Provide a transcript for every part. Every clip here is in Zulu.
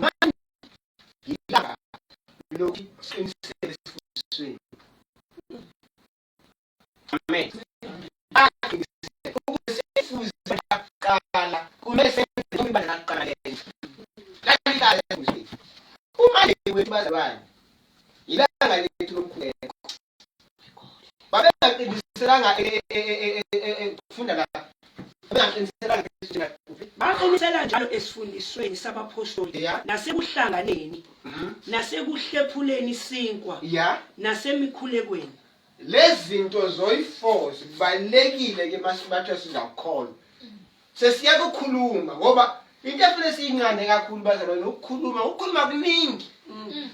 manje yilanga lokuthi siqinisele esifundisweni amen aqinisele ukuthi sifuze kuqala kumele senze ukuba naqala lenza kanikahle ukuthi uma nje wethu bazalwane yilanga lethu lomkhuleko babengaqiniselanga ukufunda la babengaqiniselanga baqinisela njalo esifundisweni sabaphostoli nasekuhlanganeni mhm. nasekuhlephuleni isinkwa nasemikhulekweni lezi zinto zoyi-four zibalulekile ke masibathiwa sizakukholwa Sesiyeke ukukhuluma ngoba into efuna siyinqande kakhulu bazalwane ukukhuluma ukukhuluma kuningi. Mm.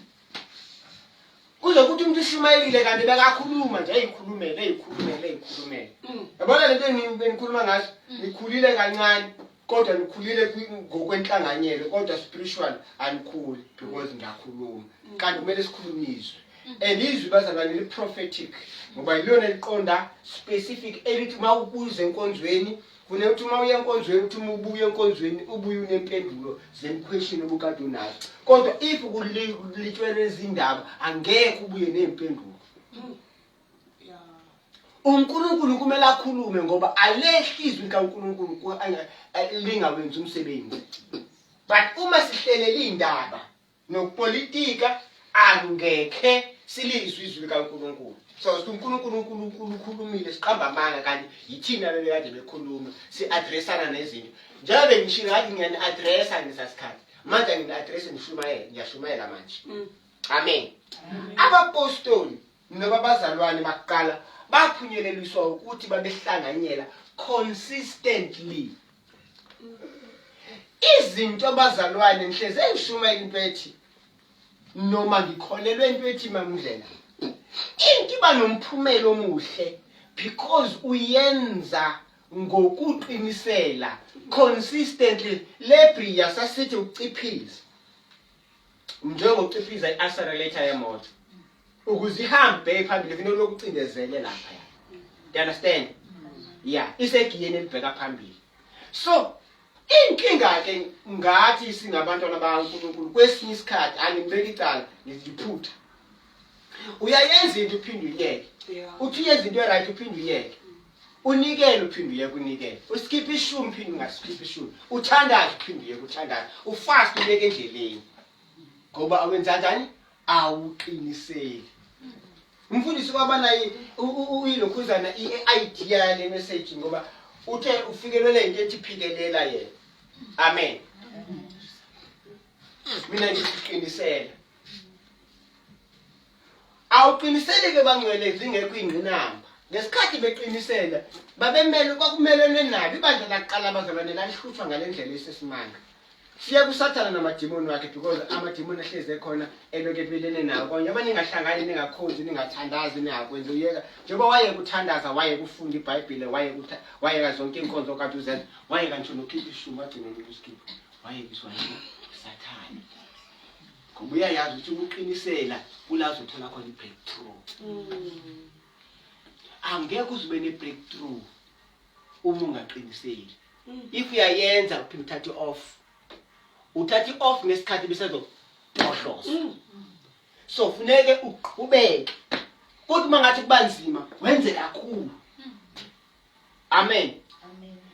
Kuze ukuthi umuntu ushumayelile kanti bekakhuluma nje ayikhulumele ayikhulumele ayikhulumele. Mm. Yabona lento enginikhuluma ngaso mm. nikhulile kancane kodwa nikhulile ngokwenhlanganyelo kodwa spiritual anikhuli because ngiyakhuluma kanti kumele sikhulumizwe and izwi bazalwane li-prophetic ngoba yilona liqonda specific elithi uma ukuze enkonzweni Fune ukuthi uma uya enkonzweni ukuthi uma ubuya enkonzweni ubuye unempendulo zemkhweshini obukade unazo. Kodwa if kulitshwele izindaba angeke ubuye nempendulo. uNkulunkulu kumele akhulume ngoba alehli izwi likaNkulunkulu lingawenzi umsebenzi but uma sihlelele indaba nokupolitika angekhe silizwe izwi likaNkulunkulu sawuthi uNkulunkulu uNkulunkulu ukhulumile siqamba amanga kanti yithina bebekade bekhuluma si-addressana nezinto njengoba bengishilo ngathi ngiyani-addressa ngesasikhathi manje angini-addresse ngishumayele ngiyashumayela manje mm. amen abapostoli noma abazalwane bakuqala baphunyeleliswa ukuthi babehlanganyela consistently izinto abazalwane ngihleze ngishumayela into ethi noma ngikholelwe into ethi mamndlela into iba nomphumela omuhle because uyenza ngokuqinisela consistently lebri yasasithi uciphiza njengokuciphiza i-accelerator yemoto ukuze ihambe bheke phambili funa lokucindezele lapha ya you understand ya isegiyeni elibheka phambili so inkinga ke ngathi singabantwana bakaNkulunkulu kwesinye isikhathi angimbeki icala ngiziphutha uyayenza into uphinde uyeke uthi uyenza into right uphinde uyeke unikele uphinde uyeke unikele uskiphe ishumi uphinde ungaskiphe ishumi uthandaze uphinde uyeke uthandaze ufast ubeke endleleni ngoba awenzanjani awuqiniseli umfundisi kwaba naye uyilokhuzana i-idea yale message ngoba uthe ufikelele into ethi phikelela yena amen mina ngisiqinisela awuqiniseleke bangcwele zingekho ingqinamba ngesikhathi beqinisela babemele kwakumelene nabo ibandla lakuqala abazalwane lalihlutshwa ngale ndlela esesimanga Siya kusathana namadimoni wakhe because amadimoni ahlezi ekhona eloke ebelene nawo konye uma ningahlangani ningakhonzi ningathandazi ningakwenzi uyeka njengoba wayeka uthandaza wayeka ufunda ibhayibhile wayeka wayeka zonke iy'nkonzo kade uzenza wayeka ngisho nokhipha ishumi wagcina nokusikhipha wayeka iswayini sathane ngoba uyayazi ukuthi ukuqinisela kulazi uthola khona i-breakthrough mm. angeke uzibe ne-breakthrough uma ungaqiniseki if uyayenza uphinde uthathe off uthathe off ngesikhathi besazoqohloza mm. so funeke uqhubeke kodwa uma ngathi kuba nzima wenze kakhulu mm. amen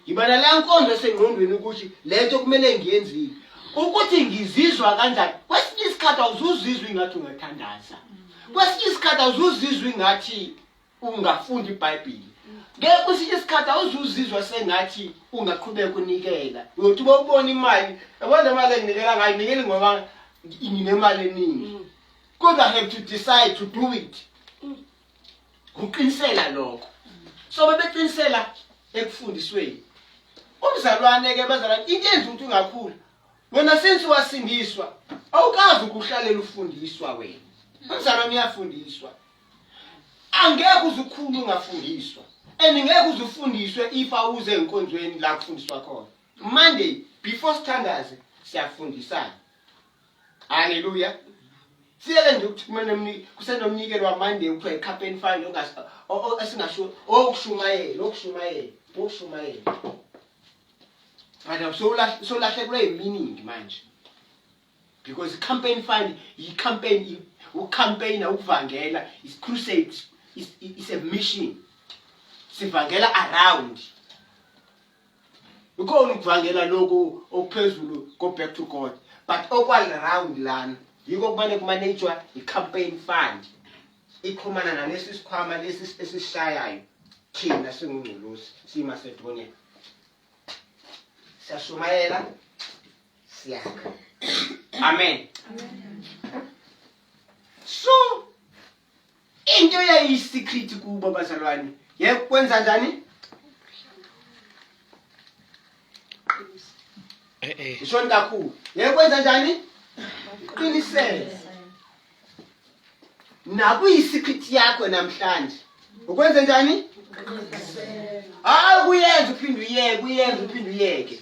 ngibana la nkonzo esengqondweni ukuthi le nto kumele ngiyenzile ukuthi ngizizwa kanjani kwesinye isikhathi awuzuzizwa ingathi ungathandaza mm. kwesinye isikhathi awuzuzizwa ingathi ungafunda iBhayibheli ke kwesinye isikhathi awuzuzizwa sengathi ungaqhubeka unikela uyothi uba ubona imali yabona le mali enginikela ngayo nikeli ngoba nginemali eningi mm. kodwa have to decide to do it mm. uqinisela lokho so bebeqinisela ekufundisweni umzalwane ke bazalwane into enza ukuthi ungakhula wena since wasindiswa awukazi ukuhlalela ufundiswa wena umzalwane uyafundiswa angeke uzukhulu ungafundiswa and ngeke uzufundiswe if awuze enkonzweni la kufundiswa khona monday before sithandaze siyafundisana haleluya siyeke nje ukuthi kumele kusenomnikelo wamonday kuthiwa ikhapeni fine esingasho okushumayela okushumayela okushumayela but sowulahlekelwe yiminingi manje because i-campaign fund yi-campaign ucampaigna ukuvangela is crusade is, is a mission sivangela around ukhona ukuvangela lokhu okuphezulu go back to god but okwali round lana yiko kumane kumanejwa i-campaign fund iqhumana nalesi sikhwama lesi esishayayo thina singungculusi simasedoneni siyashumayela siyakha amen so into yayiyisecret kubo bazalwane yekwenza njani eh, eh. ishoni kakhulu yekwenza njani qinisele nakuyisiphithi yakho namhlanje ukwenze njani hayi kuyenza uphinde uyeke kuyenza uphinde uyeke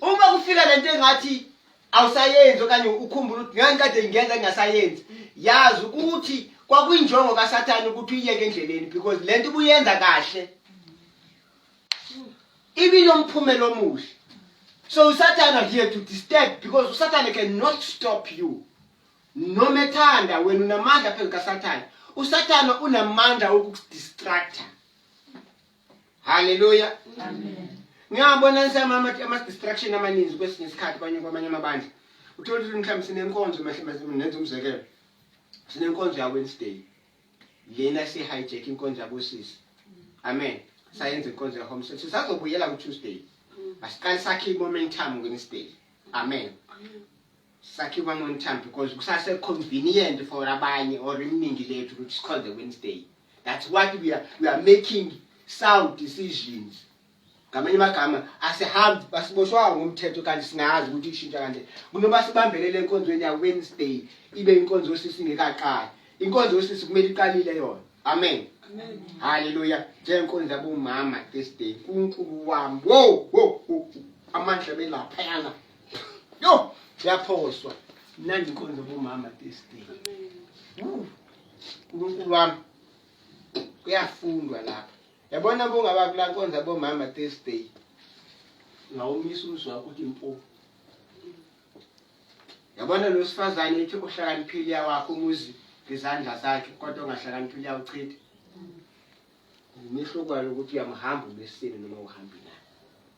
uma kufika lento engathi awusayenzi okanye ukhumbula ukuthi ngeke kade ngiyenza ngingasayenzi yazi ukuthi kwakwinjongo kasathane ukuthi uyiyeke endleleni because le nto ubuyenza kahle ibinomphumela omuhle so usathane here to disturb because usathane cannot stop you noma ethanda wena unamandla phezu kaSathane uSathane unamandla okukudistracta haleluya amen ngiyabona nsama ama ama distraction amaningi kwesinye isikhathi kwanye kwamanye amabandla uthola ukuthi mhlawumbe sinenkonzo nenza umzekelo sinenkonzo ya Wednesday lena si hijack inkonzo yabosisi amen sayenza inkonzo ya home service sazobuyela ku Tuesday asiqale sakhe i momentum ngenisday amen sakhiwe amon time because kusase convenient for abanye or iminingi lethu ukuthi sikhole the wednesday that's what we are, we are making sound decisions ngamanye amagama asihambi basiboshwanga ngomthetho kanti singazi ukuthi kushintsha kanje kunoba sibambelele enkonzweni ya-wednesday ibe inkonzo yosisi ingekaqali inkonzo yosisi kumele iqalile yona amen halleluya njengenkonzo yabomama this day unkulunkulu wami wo wo amandla belaphayana yo yaphoswa mnandi inkonzo bomama this day uNkulunkulu wami kuyafundwa lapha yabona bongaba kula nkonza bomama this day ngawumisa umzwa ukuthi mpo yabona lo sifazane ethi uhlakaniphile yakho umuzi ngezandla zakhe kodwa ongahlakaniphile yawuchitha umehluko walo ukuthi uyamhamba umesini noma uhambile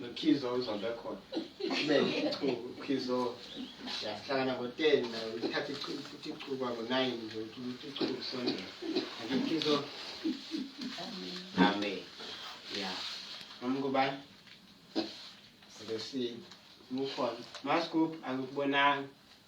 Nokhizo uzobe khona. Kube ichuku khizo. Siyahlangana ngo-10 nayo uthathe ichuku futhi ichuku ngo-9 nje ukuthi ichuku kusondela. Kanti khizo Amen. Ya. Noma kubani? Sibesini. Mukhona. Maskub angikubonanga.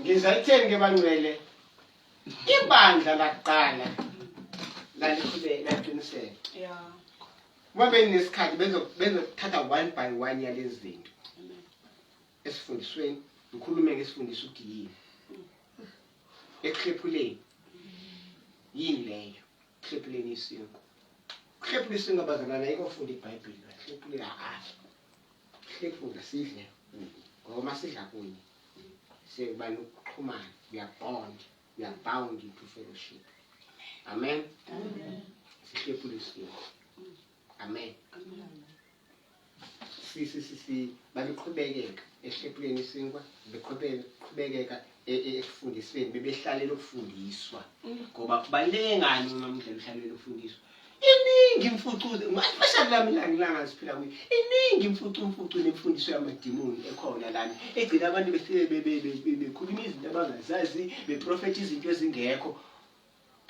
ngiza ekutheni ke bangcwele ibandla lakuqala lalikhube laqiniseka yeah uma beninesikhathi bezokuthatha one by one yalezi zinto esifundisweni ngikhulume ngesifundisa ukuthi yini ekuhlephuleni yini leyo Hlephuleni isingo. Hlephula isingo bazalwana ayike ufunda iBhayibheli. Hlephula kahle. Hlephula sidle. Ngoba uma sidla kunye sekuba nokuxhumana. We are bond. We are bound into fellowship. Amen. Amen. Sihlephula isingo. Amen. Amen. babeqhubekeka ehlephuleni isinkwa beqhubekeka e, e, ekufundisweni bebehlalela ukufundiswa mm. ngoba kubaluleke ngani uma mdlela uhlalela ukufundiswa iningi imfucuze mashadi lami langilanga siphila kuyo iningi imfucu mfucu nemfundiso yamadimoni ekhona lana egcina abantu befike bekhuluma izinto abangazazi beprofetha izinto ezingekho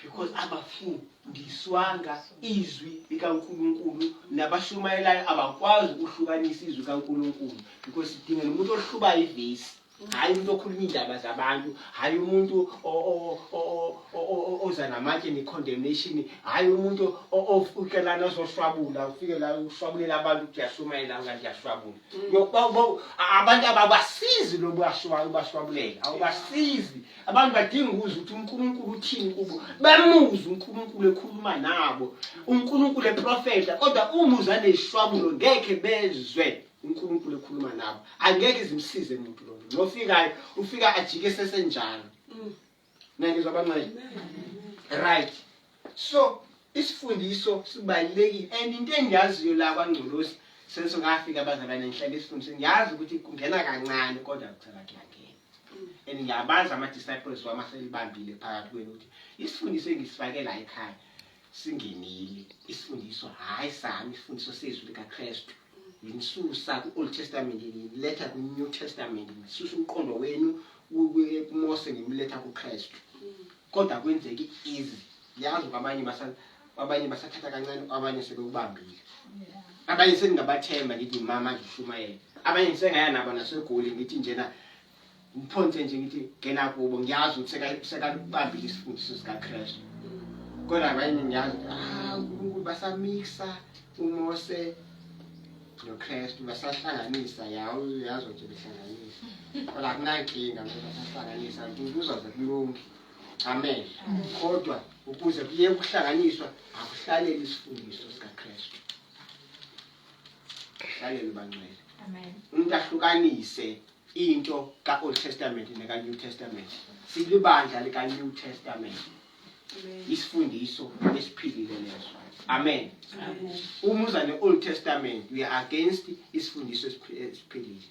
because abafundiswanga izwi likaNkulunkulu nabashumayelayo abakwazi ukuhlukanisa izwi kaNkulunkulu because sidingela umuntu ohluba ivesi hhayi umuntu okhuluma iy'ndaba zabantu hhayi umuntu oza namatshe ne-condemnation hhayi umuntu ofike lana ozoshwabula ufike la ushwabulela abantu ukuthi uyashumayela nga ndiyashwabula mm. abantu ababasizi lobu bashwabulela awubasizi mm. abantu badinga ukuzwa ukuthi unkulunkulu uthini kubo bamuzwe unkulunkulu ekhuluma nabo unkulunkulu eprofeta kodwa umuzwa neshwamulo ngekhe bezwe unkulunkulu ekhuluma nabo angeke zimsize muntu lo ngofikayo ufika ajike sesenjalo mm. nangizwa bancane right So isifundiso sibalulekile and into engiyaziyo la kwaNgcolosi senso ngafika abazalwane ngihlale isifundiso ngiyazi ukuthi kungena kancane kodwa kucela kuyangena and ngiyabazi ama-disciples wami aselibambile phakathi kwenu ukuthi isifundiso engisifake la ekhaya singenile isifundiso hhayi sami isifundiso sezwi likakristu nginisusa ku-old testament ngiletha kwi-new testament ngisusa umqondo wenu kumose ngimletha kukristu Kodwa kwenzeki easy. Yazi kwamanye basa kwabanye basathatha kancane kwabanye sebekubambile. Abanye seningabathemba ngithi mama ngishumayele. Abanye ngisengaya nabo nasegoli ngithi njena ngiphonse nje ngithi ngena kubo ngiyazi ukuthi seka sekakubambile isifundiso sika Christ. Kodwa abanye ngiyazi ah uNkulunkulu basamixa uMose noKristu basahlanganisa yawo uyazi ukuthi behlanganisa kodwa akunankinga mntu basahlanganisa kuzoze kulunge amen kodwa ukuze kuye ukuhlanganiswa akuhlalele isifundiso sikaKristu hlalele bangcwele amen umuntu ahlukanise into ka-old testament neka-new testament silibandla lika-new testament isifundiso esiphilile leso amen uma uza ne-old testament we are against isifundiso esiphilile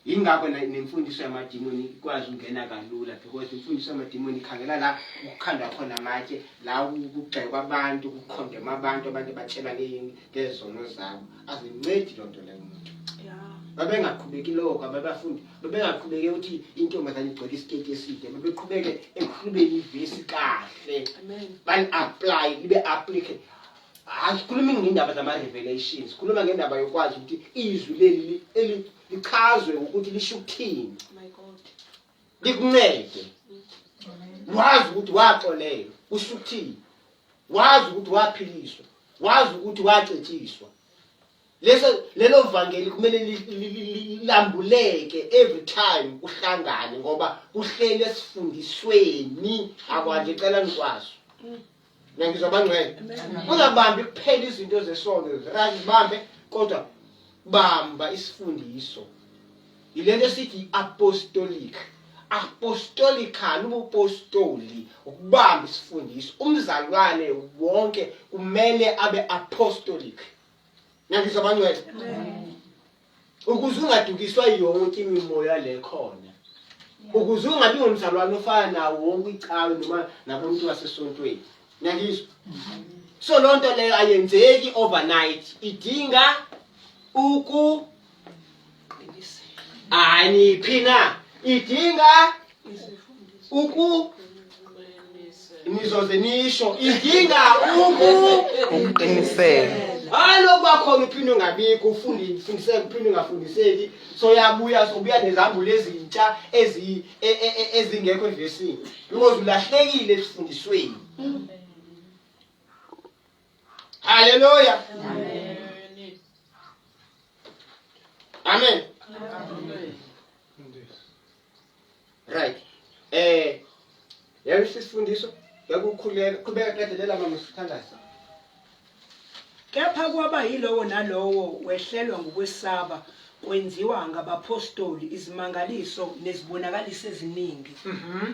yingakho nemfundiso yamadimoni ikwazi ukungena kalula because imfundiso yamadimoni ikhangela la kukhandwa khona amatshe la kugxekwa abantu kukhondema abantu abantu batshelwa ngezono zabo azincedi loo nto leyo mntu babengaqhubeki loko ababafundi babengaqhubeke ukuthi intombazane igcwele isiteti eside babeqhubeke ekhulubeni ivesi kahle bali-aplaye libe aplike asikhulumi ngendaba zama-revelation sikhuluma ngendaba yokwazi ukuthi izwi leli lichazwe ukuthi lisho ukuthini oh likuncede wazi ukuthi waxolelwa kusho ukuthini wazi ukuthi waphiliswa wazi ukuthi wacetshiswa leso lelo vangeli kumele lambuleke every time kuhlangane ngoba kuhlele sifundisweni akwanje cela nikwazi nangizwa bangcwele ungabambi kuphela izinto zesono right bambe kodwa bamba isifundiso yilento esithi apostolic apostolical ubupostoli ukubamba isifundiso umzalwane wonke kumele abe apostolic nangizwa bangcwele ukuze ungadukiswa yonke imimoya le khona ukuze ungabi ngumzalwane ofana nawo wonke icawe noma nabontu basesontweni nangizwa so lonto leyo ayenzeki overnight idinga uku aniphi na idinga uku nizoze nisho idinga uku ukuqiniseka alo kwakhona uphinde ungabikho ufundi fundiseke uphinde ungafundiseki so yabuya sobuya nezambulo ezintsha ezi e, e, e, ezingekho evesini because ulahlekile esifundisweni Haleluya. Amen. Amen. Right. Eh yabe sisifundiso yakukhuleka qhubeka qedelela mama sithandaza. Kepha kwaba yilowo nalowo wehlelwa ngokwesaba kwenziwa ngabapostoli izimangaliso nezibonakaliso eziningi. Mhm.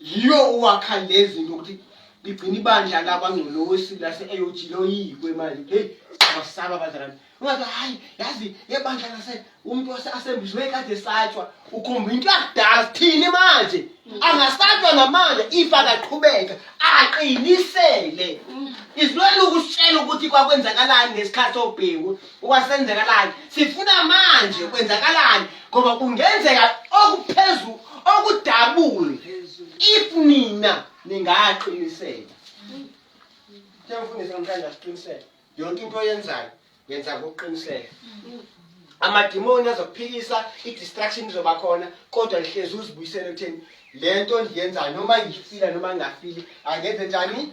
yiyo owakha lezi nto ukuthi ligcina ibandla lakwangcolosi lase-aog loyikwe manje heyi siyabasaba abazalane ungathi hhayi yazi yebandla lase umntu asembizwe kade satshwa ukhomba into yakudala sithini manje angasatshwa namanje if akaqhubeka aqinisele izilwele ukusitshela ukuthi kwakwenzakalani ngesikhathi obhewu Kwasenzakalani? Sifuna manje kwenzakalani ngoba kungenzeka okuphezulu okudabule if nina ningaqiniseka. Sengifundisa namhlanje asiqiniseke. Yonke into oyenzayo yenza ngokuqiniseka. Amadimoni azokuphikisa, i-distraction izoba khona kodwa lihlezi uzibuyisele ekutheni le nto endiyenzayo noma ngifila noma ngingafili angenze njani